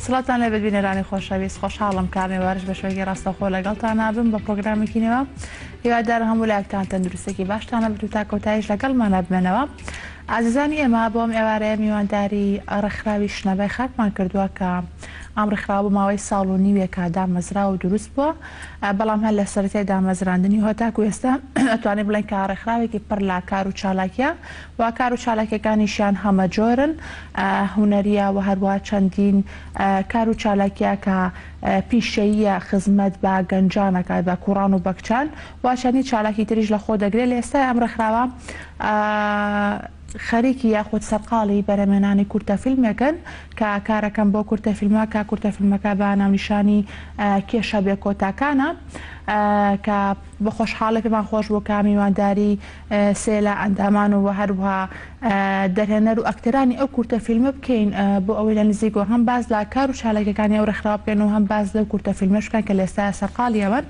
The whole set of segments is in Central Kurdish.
سڵاتان لەبێت بینەرانی خۆشەویست خۆشحاڵم کارنێ وارش بە شوێنی ڕاستەخۆ لەگەڵتان نابم بە پرۆگرامێکی نێوە هیوادار هەموو لاکتان تەندروستێکی باشتانە بتو تا کۆتایش لەگەڵمان نابمێنەوە ئازیزانی ئێمە بۆم ئێوارەیە میوانداری ڕێکخراوی شنەبای خاکمان کردووە کە ئەم ڕێکخراوە بۆ ماوەی ساڵ و نیوێکە دامەزرا و دروست بووە بەڵام هەر لە سەرەتای دامەزراندنی و هەتاکوو ئێستا ئەتوانین بڵێین کە ڕێکخراوێکی پڕ لە کار و چالاکییە و کار و چالاکییەکانیشیان هەمەجۆرن، هونەرییە و هەروەها چەندین کار و چالاکییە کە پیشەییە خزمەت بە گەنجان ئەکات بە کوڕان و بە کچان و چەندین چالاکی تریش لە خۆ دەگرێت لە ئێستای ئەم ڕێکخراوە خەریکی یاخود سەرقاڵی بەرهەمهێنانی کورتە فیلمێکن کە کارەکەن بۆ کورتە فیلمە کە کورتە فیلمەکە بە ناونیشانی، کێشە بێ کۆتاکان، ە کە بە خۆشحاڵی پێمان خۆش بوو کە میوانداری سێ لە ئەندامان و هەروەها دەرهێنەر و ئەکتەرانی ئەو کورتە فیلمە بکەین بۆ ئەوەی لە نزیکەوە هەم باس لە کار و چالاکیەکانی ئەو ڕێکخراوە بکەن و هەم باس لەو کورتە فیلمەش بکەن کە لە ئێستایا سەرقاڵیەوەن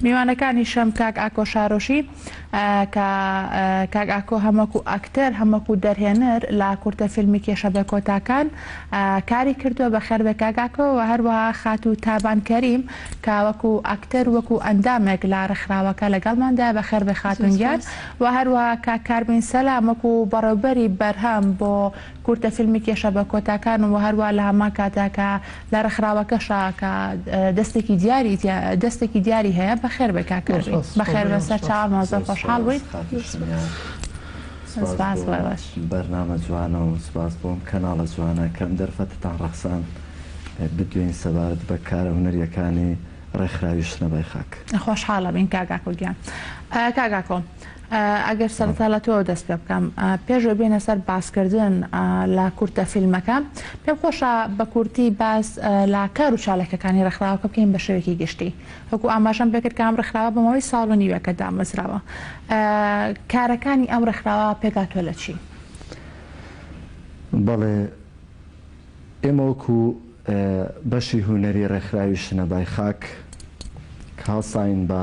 میوانەکانیشم کاک ئاکۆ شارۆشی کە کاک ئاکۆ هەم وەکو ئەکتەر هەم وەکو دەرهێنەر لە کورتە فیلمی کێشە بێکۆتاکان کاری کردووە بەخێربێ کاک ئاکۆ وە هەروەها خاتوو تابان کەریم کە وەکو ئەکتەر وەکو ئەندامێک لە ڕێکخراوەکە لەگەڵماندایە بەخێربێ خاتوون گیان وە هەروەها کاک کاربین سەلام وەکو بەڕێوبەری بەرهەم بۆ کورتە فیلمی کێشە بە کۆتاکان و هەروا لە هەمان کاتا کە لە ڕێکخراوەکەشا کە دەستێکی دیاری تیا دەستێکی دیاری هەیە بەخێر بێ کاک کەریم بەخێر بێ سەرچاومان زۆر خۆشحاڵ بووین سپاس بۆ بەرنامە جوانە و سپاس بۆ ئەم کەناڵە جوانە کە ئەم دەرفەتتان ڕەخساند بدوێین سەبارەت بە کارە هونەرییەکانی ڕێکخراوی شنەبای خاک. خۆشحاڵ ئەبین کاک ئاکۆ گیان کاک ئاکۆ. ئەگەر سەرەتا لە تۆوە دەست پێ بکەم پێش ئەوەی بێینە سەر باسکردن لە کورتە فیلمەکە پێم خۆشە بە کورتی باس لە کار و چالاکیەکانی ڕێکخراوەکە بکەین بە شێوەیەکی گشتی وەکو ئاماژەم پێ کرد کە ئەم ڕێکخراوە بە ماوەی ساڵ و نیوێکە دامەزراوە کارەکانی ئەم ڕێکخراوە پێکهاتووە لە چی؟ بەڵێ ئێمە وەکو بەشی هونەری ڕێکخراوی شنەبای خاک کە هەڵساین بە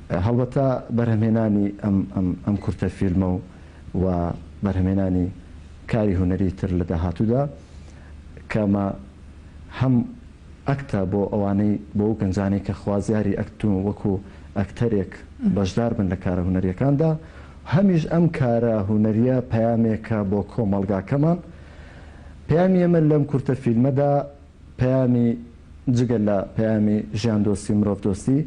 هەڵبەتە بەرهەمهێنانی ئەم ئەم ئەم کورتە فیلمە و و بەرهەمهێنانی کاری هونەری تر لە داهاتوودا کە مە هەم ئەکتە بۆ ئەوانەی بۆ ئەو گەنجانەی کە خوازیاری ئەکتن و وەکوو ئەکتەرێک بەشدار بن لە کارە هونەرییەکاندا، هەمیش ئەم کارە هونەرییە پەیامێکە بۆ کۆمەڵگاکەمان، پەیامی ئێمە لەم کورتە فیلمەدا، پەیامی جگە لە پەیامی ژیاندۆستی و مرۆڤدۆستی،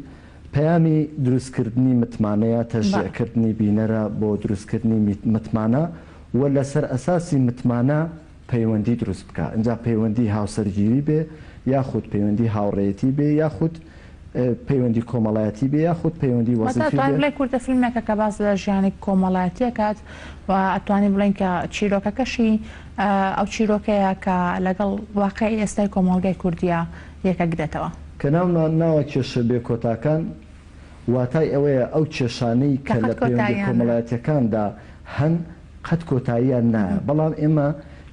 پەیامی دروستکردنی متمانەیە، تەشجیعکردنی بینەرە بۆ دروستکردنی متمانە و لەسەر ئەساسی متمانە پەیوەندی دروست بکا، ئینجا پەیوەندی هاوسەرگیری بێ یاخود پەیوەندی هاوڕێیەتی بێ یاخود. پەیوەندی کۆمەڵایەتی بێ یاخود پەیوەندی وەزیفی بێ. واتە ئەتوانین بڵێین کورتە فیلمێکە کە باس لە ژیانی کۆمەڵایەتی ئەکات و ئەتوانین بڵێین کە چیرۆکەکەشی ئەو چیرۆکەیە کە لەگەڵ واقعی ئێستای کۆمەڵگای کوردییە یەکەگرێتەوە. کە ناومان ناوە کێشە بێ کۆتاکان واتای ئەوەیە ئەو کێشانەی کە لە پەیوەندیە کۆمەڵایەتیەکاندا هەن قەت کۆتاییان نایە بەڵام ئێمە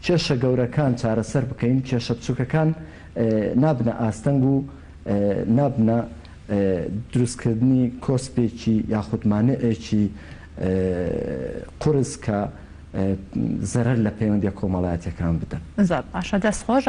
کێشە گەورەکان چارەسەر بکەین کێشە بچوکەکان نابنە ئاستەنگ و نابنە دروستکردنی کۆسپێکی یاخود مانعێکی قورس کە زەرەر لە پەیوەندیە کۆمەڵایەتیەکان بدەن. زۆر باشە دەست خۆش.